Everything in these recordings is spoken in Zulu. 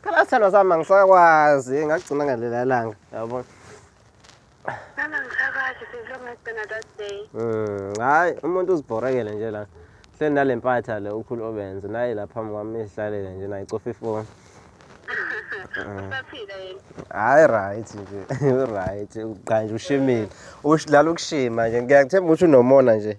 phela sithandwa sami angisakwazi ngagcina ngelela langa yabo hmm, hayi umuntu uzibhorekele nje la hleli nale mpatha le ukhulu obenze naye la phambi kwami ihlalele nje naye cofa ifoni hayi right nje right uqanje ushimile udlala ukushima nje ngiyakuthemba ukuthi unomona nje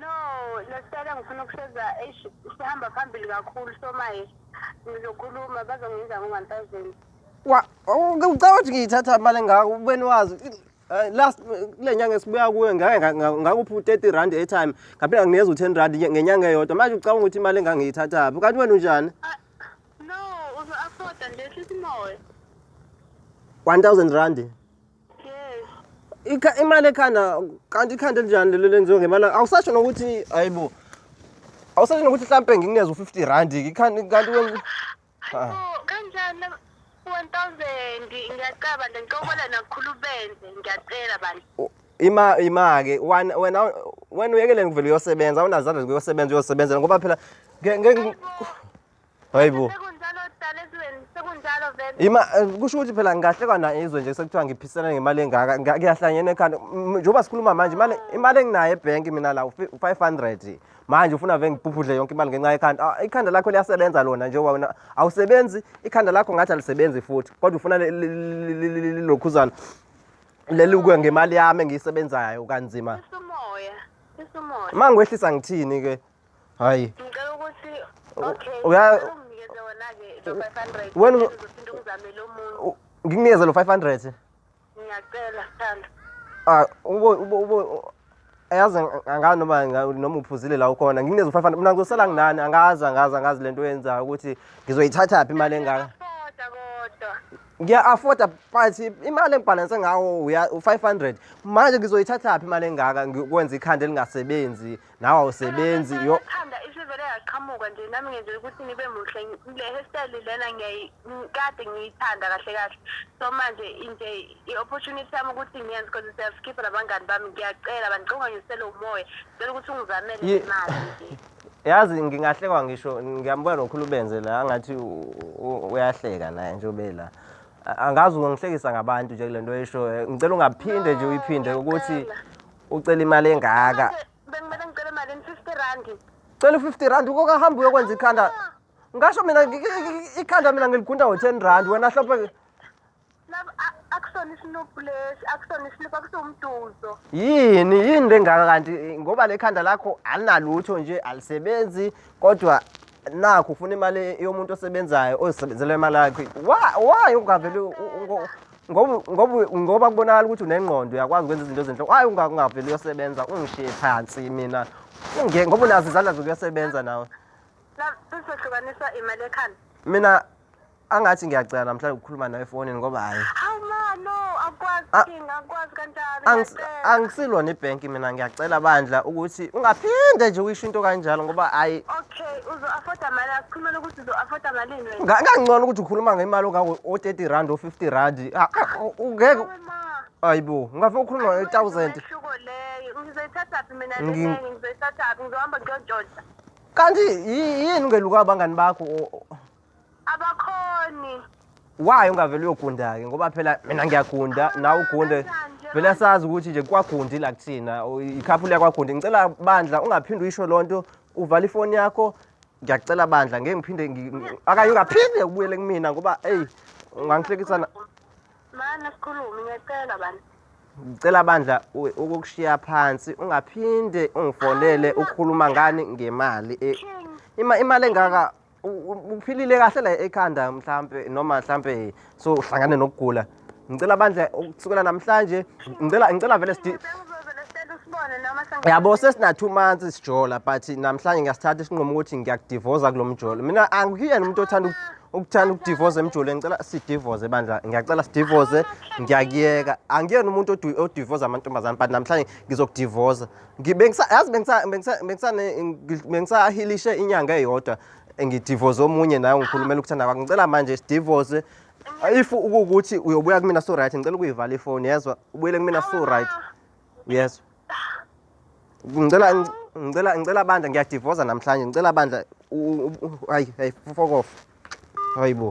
No, Lestele ngifuna ukusheza eish sihamba phambili kakhulu so maye ngizokhuluma bazongenza ngo-one thousand. Wa ucabanga ukuthi ngiyithatha imali engaka ubeni wazi eh, last kule nyanga esibuya kuyo ngake nga- nga- ngakuphi u-30 rand airtime ngaphinde nginikeza u-10 rand nye- ngenyanga eyodwa manje ucabanga ukuthi imali engaka ngiyithathaphi kanti wena unjani Ah, No, uzo-afforda nje hlisa imoya. 1000 rand Ikha- imali ekhanda kanti ikhanda elinjani lelo lenziwe ngemali awusasho nokuthi hayibo awusasho nokuthi mhlampe ngikunikeza u-50 rand ikhanda kanti wen- Ah. Oh, kanjani lama- 1000 ngiyacaba nje ngicobela nakukhulu benze ngiyacela bantu u- ima ima-ke wan- wena wena uyekeleni kuvele uyosebenza awunazandla zokuyosebenza uyosebenzela ngoba phela nge- nge- Hayibo, hayibo Sekunjalo dala ezweni, sekunjalo vele. Ima eh, kusho ukuthi phela ngahle kwana izwe nje sekuthiwa ngiphisana ngemali engaka nga- ngiyahlanyena ekhanda M- njengoba sikhuluma manje imali imali enginayo ebhenki mina la ufi- u-500 manje ufuna vele ngibhubhudle yonke imali ngenxa yekhanda Ah, ikhanda lakho liyasebenza lona njengoba wena awusebenzi ikhanda lakho ngathi alisebenzi futhi kodwa ufuna li- li- li- li- li- lilokhuzana leli kuye ngemali yami engiyisebenzayo kanzima Sisumoya, sisumoya. uma ngikwehlisa ngithini ke hayi ngicela ukuthi okay unginikeze wona ke lo 500 wena uzophinde ungizamele omunye ngikunikeze lo 500 ngiyacela thanda ah ubo ubo ubo ayazi angazi noma noma uphuzile la ukhona nginikeze u-500 mina ngizosala nginani angazi angazi angazi le nto oyenzayo ukuthi ngizoyithathaphi imali engaka ngiya-afforda but imali engibhalanse ngawo u-five hundred manje ngizoyithathaphi imali engaka ngikwenza ikhanda elingasebenzi nawe awusebenzi yo thanda isivele yaqhamuka nje nami ngenzela ukuthi ngibe muhle le hairstyle lena ngiyayikade ngiyithanda kahle kahle so manje nje i-opportunity yami ukuthi ngiyenze because siyazikhipha nabangani bami ngiyacela bandicinga ngisele umoya cela ukuthi ungizamele imali yazi ngingahlekwa ngisho ngiyambuka nokhulu benze la angathi uyahleka naye njengobe la angazi ungihlekisa ngabantu nje kule nto oyishoyo ngicela ungaphinde nje uyiphinde ukuthi ucela imali engaka Manje, Bekumele ngicele imali in 50 rand. cela u-50 rand ukoka hamba uyokwenza ikhanda Ah, ngasho mina ngi- ngi- ngi- ikhanda mina ngiligunda ngo-10 rand wena hlophe lab- a- Akusona isinuphu lesi, akusona isinuphu, akusiwumduzo. yini yini lengaka kanti eh, ngoba le khanda lakho alinalutho nje alisebenzi kodwa nakho ufuna imali yomuntu osebenzayo ozisebenzela imali yakhe Wa- why ungavele u- u- ungo- ngoba ngoba ngoba kubonakala ukuthi unengqondo uyakwazi ukwenza izinto ezinhle hayi ungakungaveli uyosebenza ungishiye phansi mina unge ngoba unazo izandla zokuyosebenza nawe sizohlukanisa imali ekhanda mina angathi ngiyacela namhlanje ukukhuluma nawe efonini ngoba hayi awumano akwazi ah. ngakwazi kanjani angisilona ibhenki mina ngiyacela bandla ukuthi ungaphinde nje uyisho into kanjalo ngoba hayi okay uzo afforda mali asikhulumela ukuthi uzoafota malini wena Nga- kangcono ukuthi ukhuluma ngemali ongango o-30 rand o-50 rand Ah, ah, u- ungeke Awu, ma hayi bo ungafe ukhuluma ayikho nge-thousand umehluko leyo ngizoyithathaphi mina Ngi- lenengi ngizoyithathaphi ngizohamba ngiyontshontsa kanti yi- yini ungeluka abangani bakho O- o- abakhoni why ungavele uyogunda-ke ngoba phela mina ngiyagunda nawe ugunde vele sazi ukuthi nje kwagundi la kuthina o- ikhaphu liyakwagunda ngicela bandla ungaphinde uyisho loo nto uvala ifoni yakho ngiyacela bandla ngeke ngiphinde akaye ungaphinde ubuyele kumina ngoba eyi ungangihlekisana mana sikhulume ngiyacela bandla ngicela bandla ukukushiya phansi ungaphinde ungifonele ukhuluma ngani ngemali e, imali engaka uphilile kahle la ekhanda mhlampe noma mhlampe so uhlangane nokugula ngicela bandla ukusukela namhlanje ngicela ngicela vele sidi yabo sesina-two months sijola but namhlanje ngiyasithatha isinqumo ukuthi ngiyakudivoza kulo mjolo mina angiyena umuntu othanda ukuthanda ukudivoza emjolweni ngicela sidivoze bandla ngiyacela sidivoze ngiyakuyeka angiyena umuntu odivoza amantombazane but namhlanje ngizokudivoza yazi bengisahilishe inyanga eyodwa ngidivoze omunye naye ngikhulumela ukuthanda kwakho ngicela manje sidivoze if ukukuthi uyobuya kumina so right ngicela ukuyivala ifoni yezwa ubuyele kumina so right yezwa ngicela ngicela ngicela bandla ngiyadivoza namhlanje ngicela bandla hayi hayi fokofa hayibo